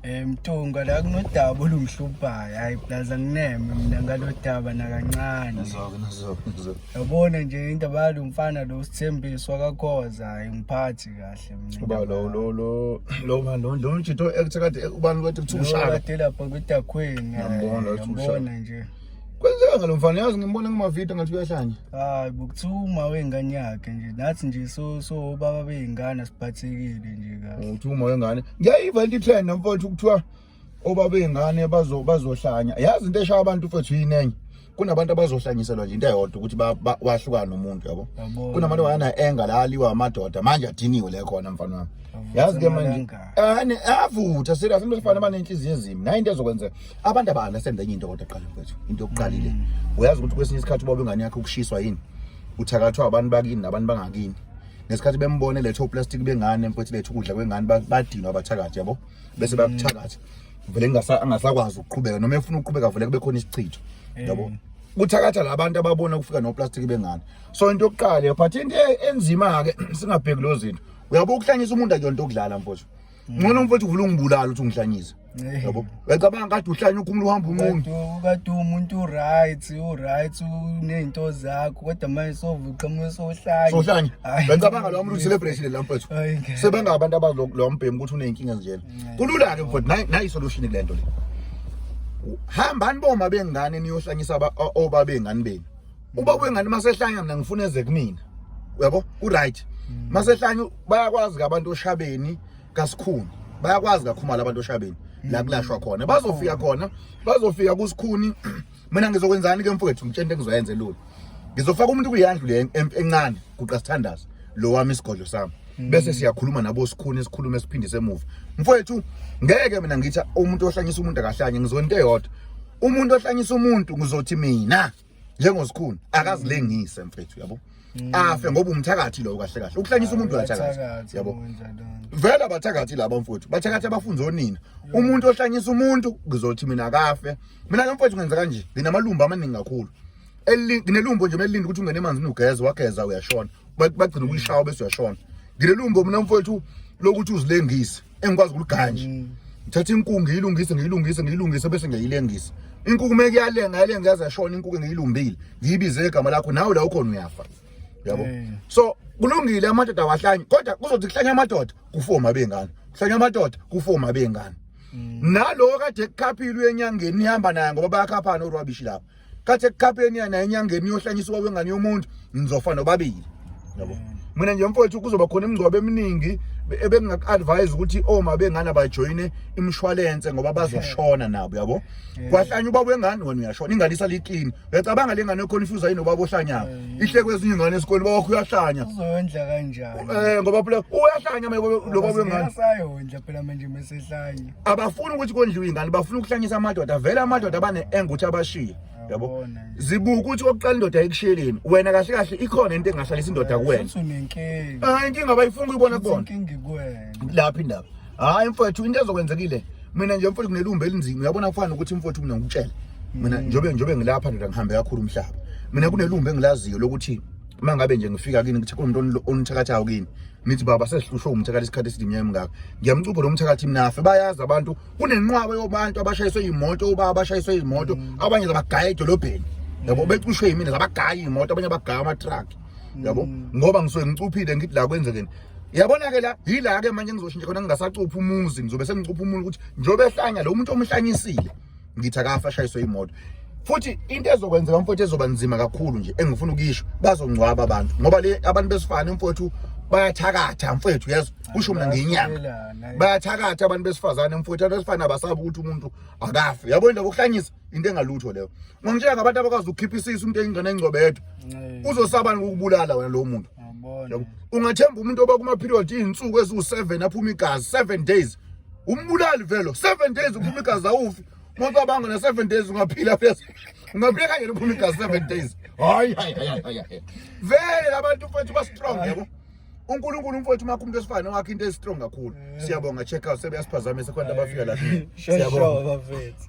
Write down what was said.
Eh Mtunga la kunodaba olungihluphayo. Hayi plus angineme mina ngalodaba nakancane. Nazoke nazoke nazoke. Yabona nje indaba yalo mfana lo sithembiswa kakhoza hayi ngiphathi kahle mina. Uba lo lo lo lo man lo lo nje to ekuthe kade ubani kade kuthiwa ushaka. Kade lapha kwidakhweni. Ngiyambona ukuthi ushaka. Ngiyambona nje. Kwenzeka ngalo mfana yazi ngimbona kumavideo ngathi uyahlanya. Hayi bokuthuma wengane yakhe nje. Nathi nje so so baba beyingane siphathekile nje kahle. Uthuma wengane. Ngiyayiva into trend nomfowethu kuthiwa obaba beyingane bazo bazohlanya. Yazi into eshaya abantu mfowethu yinenye. kunabantu abazohlanyiselwa nje into eyodwa ukuthi wahlukane umuntu yabo kunabantu bayana enga la aliwa amadoda manje adiniwe le khona mfana wami yazi ke manje ane avutha serious umuntu ofana abanenhliziyo ezimi nayo into ezokwenzeka abantu abana senza enye into kodwa qala mfethu into yokuqalile mm. uyazi ukuthi kwesinye isikhathi ubaba ingane yakhe ukushiswa yini uthakathwa abantu bakini nabantu bangakini ngesikhathi bembone letho plastic bengane mfethu letho ukudla kwengane badinwa abathakathi yabo bese bakuthakathi vele ngasa angasakwazi ukuqhubeka noma efuna ukuqhubeka vele kube khona isichitho eh. yabo kuthakatha labantu ababona ukufika no plastic bengane so into yokuqala but into e-, enzima ke singabheki lozinto uyabukuhlanyisa umuntu akuyonto okudlala mfethu ngcono mfowethu uvula ungibulala ukuthi ungihlanyise Eh. yabo uyacabanga kade uhlanye ukhumula uhamba unqunu Kadu- kadu umuntu uright uright unezinto zakho kodwa manje sovuqhamuka sohlanye sohlanye Hayi. uyacabanga lowa muntu uyi-celebration le la mfowethu Hayi, ngeke. sebenga abantu abazi lo- lowa mbhemu ukuthi uney'nkinga ezinjena kulula-ke mfowethu nayi- nayi isolution kule nto le hambani boma bengane niyohlanyisa aba- o- obabengane benu uba kwengane masehlanya mina ngifuna eze kumina uyabo ku right mm. masehlanya bayakwazi ke abantu oshabeni kasikhuni bayakwazi kakhumala abantu oshabeni la mm. kulashwa khona bazofika khona bazofika kusikhuni mina ngizokwenzani ke mfowethu ngitshente ngizoyenze lula ngizofaka umuntu kuyandlu le encane guqa sithandaza lo wami isigodlo sami mm. bese siyakhuluma nabo sikhuni sikhulume esiphindise emuva mfowethu ngeke mina ngithi umuntu ohlanyisa umuntu akahlanye ngizonto eyodwa umuntu ohlanyisa umuntu ngizothi mina njengosikhuni akazilengise mfethu yabo mm. afe ngoba umthakathi lowo kahle kahle ukuhlanyisa umuntu uyathakathi yabo vele abathakathi laba mfowethu bathakathi abafunza onina umuntu ohlanyisa umuntu kuzothi mina akafe mina ke mfowethu ngenza kanje nginamalumba amaningi kakhulu nginelumbo nje melilinde ukuthi ungene emanzini ugeze wageza uyashona bagcina ukuyishawa bese uyashona nginelumbo mina mfowethu lokuthi uzilengise engikwazi ukuluganja mm. ngithatha inkungu ngiyilungise ngiyilungise ngiyilungise bese ngiyayilengisa inkungu uma kuyalenga yalenga yaze yashona inkungu ngiyilumbile ngiyibize igama lakho nawe la ukhona uyafa yabo eh. so kulungile amadoda awahlanye kodwa kuzothi kuhlanya amadoda kufoma bengane kuhlanya amadoda kufoma bengane mm. nalowo kade kukhaphilu enyangeni nihamba naye ngoba bayakhaphana orwabishi lapho kathi ekuqapheni yana enyangeni yohlanyiswa kwengane yomuntu ngizofa nobabili yabo mina nje mfowethu kuzoba khona imingcwabo eminingi ebengingaku-advise ukuthi oma bengane bajoyine imshwalense ngoba bazoshona nabo yabo kwahlanya ubaba wengane wena uyashona ingane isaliklini uyacabanga le ngane ekhona ifuza yini ubaba ohlanyako ihle kwezinye ingane esikoleni ubaba wakho uyahlanya uzondla kanjani um ngoba phela uyahlanya lo baba wengane asayondla phela manje mesehlanye abafuni ukuthi kondliwe ingane bafuna ukuhlanyisa amadoda vele amadoda bane-eng ukuthi abashiye yabo zibuka ukuthi okokuqala indoda ekushiyeleni wena kahle kahle ikhona into engahlalisa indoda kuwena hayi inkinga abayifuni kuyibona kubona lapho indaba hayi mfowethu into ezokwenzekile mina nje mfowethu kunelumbi elinzima uyabona kufana ukuthi mfowethu mina ngikutshele mina mm. njobe njobe ngilapha ndoda ngihambe kakhulu umhlaba mina kunelumbi engilaziyo lokuthi uma ngabe nje ngifika kini kuthi kunomuntu onithakathayo kini nithi baba sesihlushwe umthakathi isikhathi esidinye emngaka ngiyamcupha lo mthakathi mnafe bayazi abantu kunenqwaba yobantu abashayiswe imoto uba abashayiswe imoto mm. abanye zabagaya edolobheni yabo becushwe yimina zabagaya imoto abanye abagaya ama-truck yabo mm. ngoba ngisuke ngicuphile ngithi la kwenzekeni yabona-ke la yila-ke manje ngizoshintsha khona ngingasacuphi umuzi ngizobe sengicupha umuntu ukuthi njengoba ehlanya lo muntu omhlanyisile ngithi akafa ashayiswe imoto futhi into ezokwenzeka mfowethu ezoba nzima kakhulu nje engifuna ukuyisho bazongcwaba abantu ngoba le abantu besifane mfowethu bayathakatha mfowethu yazi kusho mina ngenyanga bayathakatha abantu besifazane mfowethu abantu besifane abasabi ukuthi umuntu akafe yabo into yokuhlanyisa into engalutho leyo ngongitshela ngabantu abakwazi ukukhipha isisu umuntu engcane engcobedwa uzosabani ukubulala wena lowo muntu ungathemba umuntu oba kuma period izinsuku eziwu7 aphuma igazi 7 days umbulali velo 7 days uphuma igazi awufi umuntu wabanga na 7 days ungaphila phezulu ungaphila kanye uphuma igazi 7 days hayi hayi hayi hayi vele labantu mfethu ba strong yebo uNkulunkulu umfowethu makho umuntu esifana wakhe into estrong kakhulu siyabonga check out sebeyasiphazamisa khona abafika la siyabonga bafethu